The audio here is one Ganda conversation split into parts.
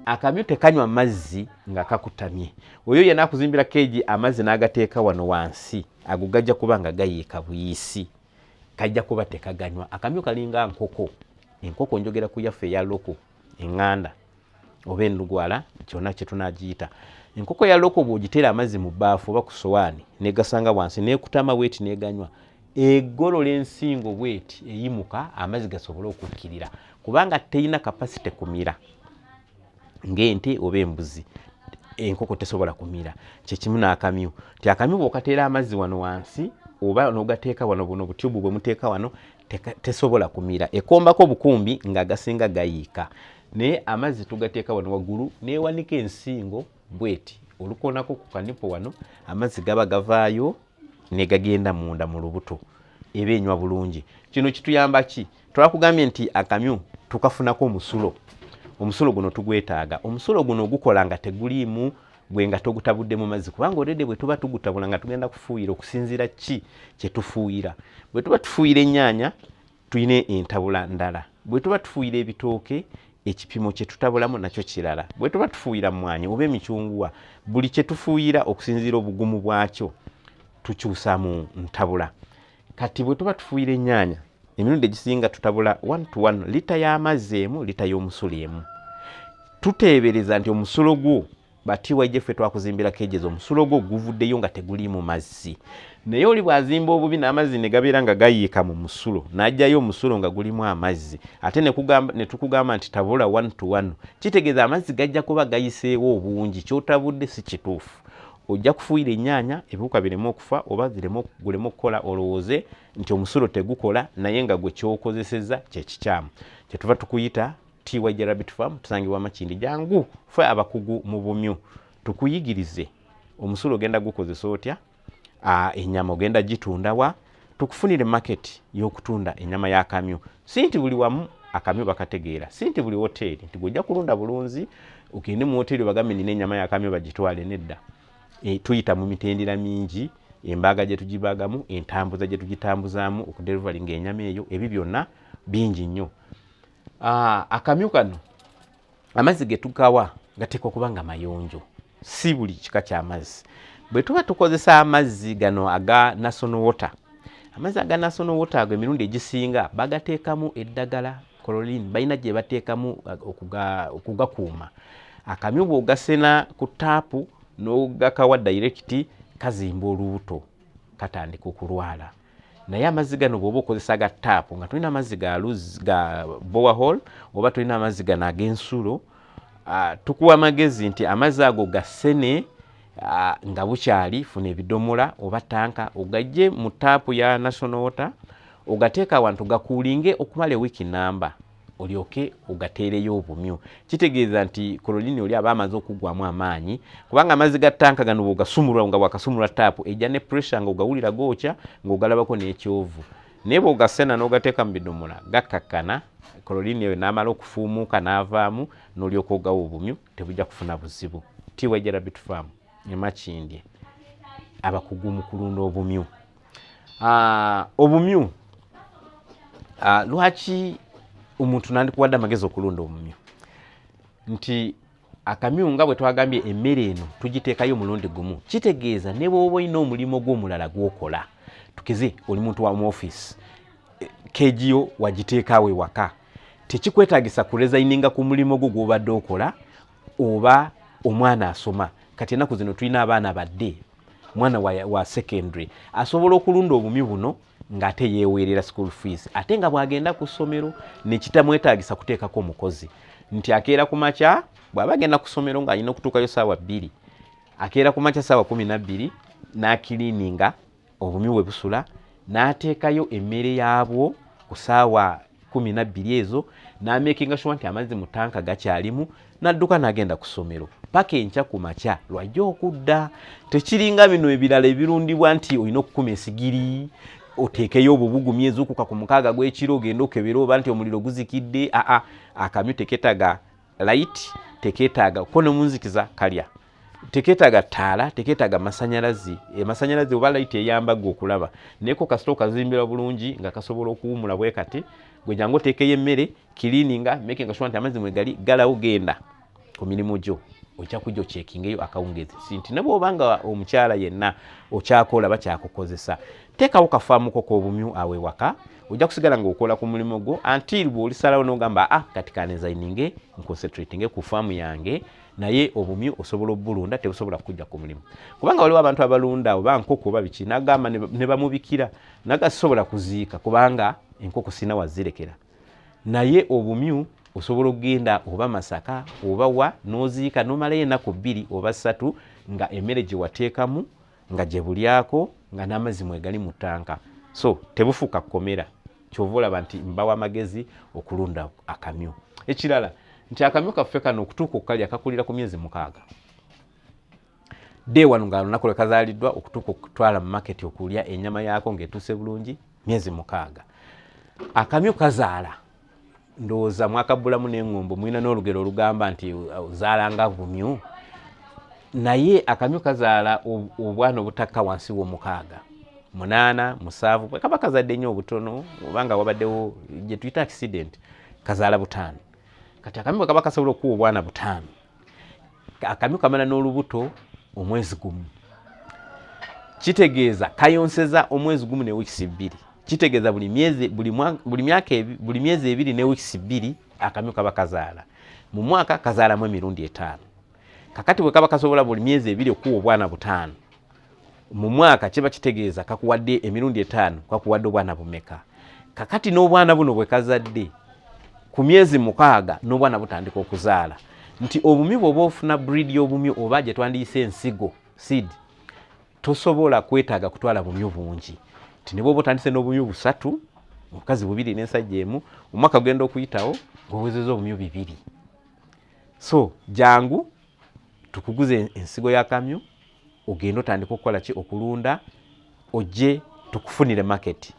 akamyu tekanywa mazzi nga kakutamye oyo yena akuzimbira keegi amazzi n'agateeka wano wansi ago gajja kuba nga gayiika buyisi kajja kuba tekaganywa akamyu kalinga nkoko enkoko njogera ku yaffe eya loko enganda oba enlugwala kyona kyetunagiyita enkoko ya loko bwogitera amazzi mu baafu oba ku sowaani negasanga wansi nekutama bweti neganywa egolola ensingo bweti eyimuka amazzi gasobole okukkirira kubanga terina kapasite kumira ngaente oba embuzi enkoko tesobola kumira kyekimu nakamyu ti akamyu bwokatera amazzi wano wansi oba nogateeka wano buno butyubu bwemuteeka wano tesobola kumira ekombako bukumbi nga gasinga gayiika naye amazzi tugateeka wano waggulu newanika ensingo bweti olukonako ku kanipo wano amazzi gaba gavaayo negagenda munda mu lubuto eba enywa bulungi kino kituyamba ki twakugambye nti akamyu tukafunako omusulo omusulo guno tugwetaaga omusulo guno gukola nga teguliimu gwe nga togutabudde mu mazzi kubanga olede bwe tuba tugutabula nga tugenda kufuuyira okusinziira ki kye tufuuyira bwe tuba tufuuyira ennyaanya tulina entabula ndala bwe tuba tufuuyira ebitooke ekipimo kye tutabulamu nakyo kirala bwe tuba tufuuyira mmwanyi oba emicunguwa buli kye tufuuyira okusinziira obugumu bwakyo tukyusa mu ntabula kati bwe tuba tufuuyira ennyaanya emirundi egisinga tutabula one to one lita y'amazzi emu lita y'omusula emu tuteebereza nti omusulo gwo batyj ffe twakuzimbira keges omusulo gwo guvuddeyo nga teguliimu mazzi naye oli bwazimba obubi n'amazzi ne gabeera nga gayiika mu musulo n'ajjayo omusulo nga gulimu amazzi ate ne tukugamba nti tabula one to one kitegeeza amazzi gajja kuba gayiseewo obungi kyotabudde si kituufu ojja kufuuyira ennyaanya ebiwuka bireme okufa oba guleme okukola olowooze nti omusulo tegukola naye nga gwe kyokozeseza kyekikyamu kyetuva tukuyita tywjrabitfam tusangibwa makindi jangu fe abakugu mu bumyu tukuyigirize omusulo ogenda gukozesa otya enyama ogenda gitundawa tukufunire market y'okutunda enyama y'akamyu si nti buli wamu akamyu bakategeera si nti buli woteeri nti gwojja kulunda bulunzi ogende mu woteeri obagambe nina enyama y'akamyu bagitwale nedda e, tuyita mu mitendera mingi embaaga gye tugibaagamu entambuza gye tugitambuzaamu okuderivalinga enyama eyo ebyo byonna bingi nnyo ah, akamyu kano amazzi ge tugawa gateekwa okuba nga mayonjo si buli kika ky'amazzi bwe tuba tukozesa amazzi gano aga national water amazzi aga national water ago emirundi egisinga bagateekamu eddagala kololini balina gye bateekamu uh, okugakuuma akamyu bw'ogasena ku taapu n'ogakawa dayirekiti kazimba olubuto katandika okulwala naye amazzi gano bwoba okozesa ga taapu nga tulina amazzi ga luz ga bowerhall oba tulina amazzi gano ag'ensulo uh, tukuwa amagezi nti amazzi ago gasene uh, nga bukyali funa ebidomola oba tanka ogajje mu taapu ya national water ogateeka awantu gakuulinge okumala ewiiki namba olyoke ogateereyo obumyu kitegeeza nti kololini oli aba amaze okuggwamu amaanyi kubanga amazzi ga tanka gano bwogasumulwa nga bwakasumulwa taapu ejja ne pressure nga ogawulira gookya ng'ogalabako n'ekyovu naye bwogasena n'ogateeka mu bidomola gakkakkana kololini eyo n'amala okufuumuuka n'avaamu n'olyoka ogawa obumyu tebujja kufuna buzibu tiwejera bitufaamu emakindye abakugu mu kulunda obumyu Ah, obumyu ah, lwaki omuntu nandikuwadde amagezi okulunda omumyu nti akamyu nga bwe twagambye emmere eno tugiteekayo omulundi gumu kitegeeza ne bwoba olina omulimu gw'omulala gwokola tukeze oli muntu wa mu ofiisi eh, kegiyo wagiteekaawo ewaka tekikwetagisa kurezayininga ku mulimu gwo gwobadde okola oba omwana asoma kati enaku zino tulina abaana badde mwana wa, wa secondary asobola okulunda obumyu buno ng'ate yeeweerera school fees ate nga bw'agenda ku ssomero nekitamwetaagisa kuteekako omukozi nti akeera ku makya bw'aba agenda ku ssomero ng'alina okutuukayo saawa bbiri akeera ku makya saawa kumi nabbiri n'akiliininga obumyu we busula n'ateekayo emmere yaabwo ku saawa kumi nabbiri ezo namekinga shuwa nti amazzi mu tanka gakyalimu nadduka nagenda ku ssomero paka enkya ku makya lwajja okudda tekiringa bino ebirala ebirundibwa nti olina okukuma esigiri oteekeyo obubugumya ezuukuka ku mukaaga gw'ekiro ogenda okebera oba nti omuliro guzikidde aa akamyu teketaga layiti teketaaga kuko nomunzikiza kalya teketaaga taala teketaaga masanyalazi emasanyalazi eh, oba layiti eyamba gwe okulaba neko kasita okazimbira bulungi nga kasobola okuwumula bwe kati gwe jangu oteekeyo emmere kiliininga makinga sure nti amazzi mwegali galawo genda ku mirimu gyo ojja kujja okyekingeyo akawungezi sinti ne bwoba nga omukyala yenna okyakola bakyakukozesa Teekawo ka faamu ko k'obumyu awo ewaka, ojja kusigala ng'okola ku mulimu gwo until bw'olisalawo n'ogamba ah kati ka designinge nconcentratinge ku faamu yange naye obumyu osobola obulunda tebusobola kujja ku mulimu kubanga waliwo abantu abalunda oba nkoko oba biki nagamba ne bamubikira nagasobola kuziika kubanga enkoko sina wazirekera naye obumyu osobola okugenda oba masaka oba wa noziika nomalayo enaku bbiri oba ssatu nga emmere gyewateekamu nga gye bulyako nga n'amazzi mwegali mu ttanka so tebufuuka kukomera kyova olaba nti mbawo amagezi okulunda akamyu ekirala nti akamyu kaffe kano okutuuka okukalya kakulira ku myezi mukaaga day wano nga lunaku lwe kazaliddwa okutuuka okutwala mu maketi okulya enyama yaako ng'etuuse bulungi myezi mukaaga akamyu kazaala ndowooza mwakabbulamu n'engombo mulina n'olugero olugamba nti uh, zaalanga bumyu naye akamyu kazaala obwana obutakka wansi w'omukaaga munaana musaavu kaba kazadde nnyo obutono obanga wabaddewo gye tuyita accident kazaala butaano kati akamyu bwe kaba kasobola okuwa obwana butaano akamyu kamala n'olubuto omwezi gumu kitegeeza kayonseza omwezi gumu ne wiikisi bbiri kitegeeza buli myezi buli myaka buli myezi ebiri ne wiikisi bbiri akamyu kaba kazaala mu mwaka kazaalamu emirundi etaano kakati bwe kaba kasobola buli myezi ebiri okuwa obwana butaano mu mwaka kiba kitegeeza kakuwadde emirundi etaano kakuwadde obwana bumeka kakati n'obwana buno bwe kazadde ku myezi mukaaga n'obwana butandika okuzaala nti obumi bwoba ofuna breed y'obumi oba gye twandiyise ensigo seed tosobola kwetaaga kutwala bumyu bungi nti ne bwoba otandise n'obumyu busatu omukazi bubiri n'ensajja emu omwaka gugenda okuyitawo ng'owezeza obumyu bibiri so jangu tukuguze ensigo ya kamyu ogende otandika okukola ki okulunda ojje tukufunire maketi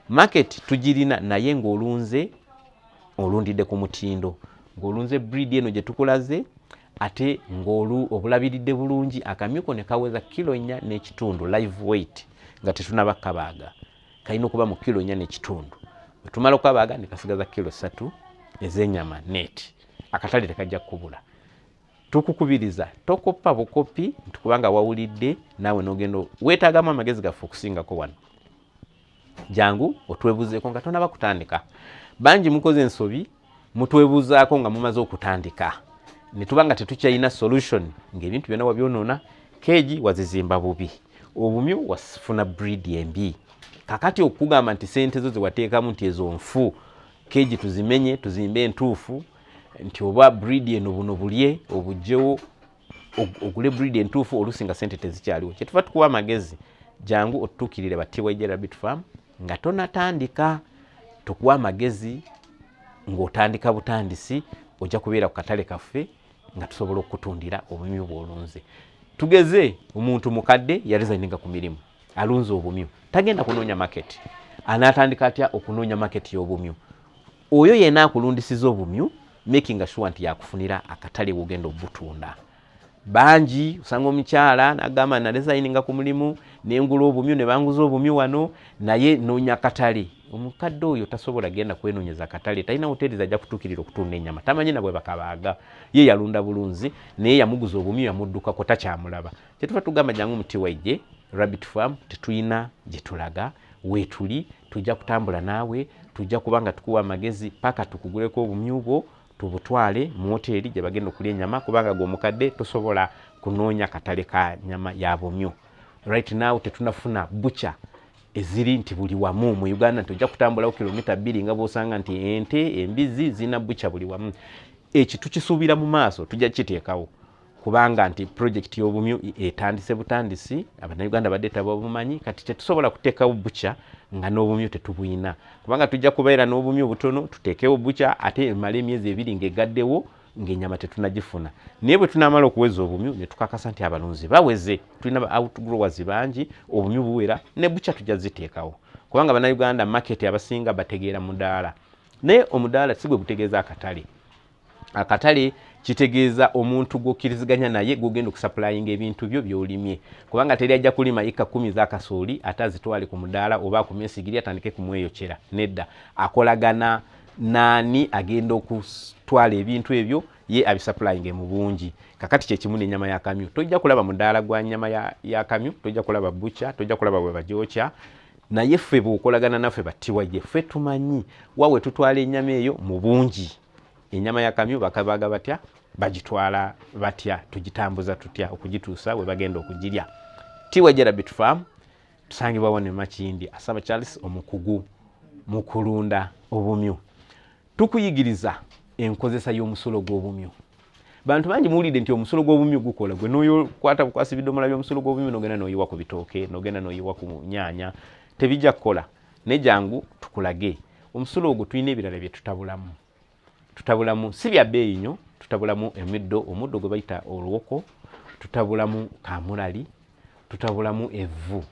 maketi tugirina naye ng'olunze olundidde ku mutindo ng'olunze breed eno gye tukulaze ate ng'olu obulabiridde bulungi akamyuko ne kaweza kilo nnya n'ekitundu live weight nga tetunaba kabaaga kalina okuba mu kilo nnya n'ekitundu wetumala okukabaaga ne kasigaza kilo satu ez'enyama net akatale tekajja kukubula tukukubiriza tokoppa bukoppi nti kubanga wawulidde naawe nogenda weetaagamu amagezi gaffe okusingako wano jangu otwebuzeeko nga tonaba kutandika bangi mukoze ensobi mutwebuzaako nga mumaze okutandika netuba nga tetukyalina solution ngaebintu byona wabyonoona keegi wazizimba bubi obumyu wasifuna breed embi kakati okugamba nti sente zo zewateekamu nti ezo nfu keegi tuzimenye tuzimbe entuufu nti oba breed eno buno bulye obujjewo ogule breed entuufu oluusi nga sente tezikyaliwo kyetuva tukuwa amagezi jangu otutuukirire ba tyj rabbit farm nga tonatandika tukuwa amagezi ng'otandika butandisi ojja kubeera ku katale kaffe nga tusobola okukutundira obumyu bwolunze tugeze omuntu mukadde yarizaninga ku mirimu alunze obumyu tagenda kunoonya maketi anaatandika atya okunoonya maketi y'obumyu oyo yena akulundisiza obumyu making sure nti yakufunira akatale wogenda obutunda bangi osanga omukyala nagamba nalezayininga ku mulimu nengula obumyu nebanguza obumyu wano naye nonya katale omukadde oyo tasobola genda kwenonyeza katale talina hoteri zajja kutukirira okutunda enyama tamanyi nabwe bakabaaga ye yalunda bulunzi naye yamuguza obumyu yamuddukako takyamulaba kyetuva tugamba jangu mutiwaije rabbit farm tetulina gyetulaga wetuli tujja kutambula naawe tujja kuba nga tukuwa amagezi paka tukuguleko obumyu bwo tubutwale mu woteeri gye bagenda okulya enyama kubanga gwe omukadde tosobola kunoonya katale ka nyama ya bumyu right now tetunafuna bucha eziri nti buli wamu mu uganda nti ojja kutambulawo kilomita bbiri nga bwosanga nti ente embizi zirina bucha buli wamu eki tukisuubira mu maaso tujja kukiteekawo kubanga nti pulojekiti y'obumyu etandise butandisi abannayuganda badde tababumanyi kati tetusobola kuteekawo bukya nga n'obumyu tetubuyina kubanga tujja kubeera n'obumyu obutono tuteekewo bukya ate emala emyezi ebiri ng'egaddewo ng'enyama tetunagifuna naye bwe tunaamala okuweza obumyu ne tukakasa nti abalunzi baweze tulina ba outgrowers bangi obumyu buwera ne bukya tujja ziteekawo kubanga bannayuganda maketi abasinga bategeera mudaala naye omudaala si gwe gutegeeza akatale akatale kitegeeza omuntu gwokkiriziganya naye gwogenda okusapulayinga ebintu byo byolimye kubanga teri ajja kulima ika kumi zakasooli ate azitwale ku mudaala oba akume ensigiri atandike kumweyokyera nedda akolagana naani agenda okutwala ebintu ebyo ye abisapulayinge mu bungi kakati kyekimu nenyama ya kamyu tojja kulaba mudaala gwa nyama ya kamyu tojja kulaba bucha tojja kulaba bwebagyokya naye ffe bwokolagana naffe battiwa ye ffe tumanyi wawe tutwala enyama eyo mu bungi enyama ya kamyu bakabaga batya bagitwala batya tugitambuza tutya okugituusa we bagenda okugirya tiwajera bitfam tusangibwa wano emakindi asaba charles omukugu mu kulunda obumyu tukuyigiriza enkozesa y'omusulo gw'obumyu bantu bangi muwulidde nti omusulo gw'obumyu gukola gwe noyokwata bukwasi bidomola by'omusulo gw'obumyu nogenda noyiwa ku bitooke nogenda noyiwa ku nyaanya tebijja kukola naye jangu tukulage omusulo ogwo tulina ebirala bye tutabulamu tutabulamu si bya bbeeyi nyo tutabulamu emiddo omuddo gwe bayita oluwoko tutabulamu kamulali tutabulamu evvu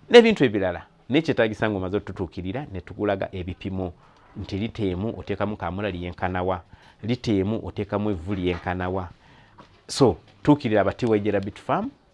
n'ebintu ebirala naye kyetagisa nga omaze otutuukirira ne tukulaga ebipimo nti liteemu oteekamu kamulali yenkanawa liteemu oteekamu evvu lyenkanawa so tuukirira abatiwejera bitfarm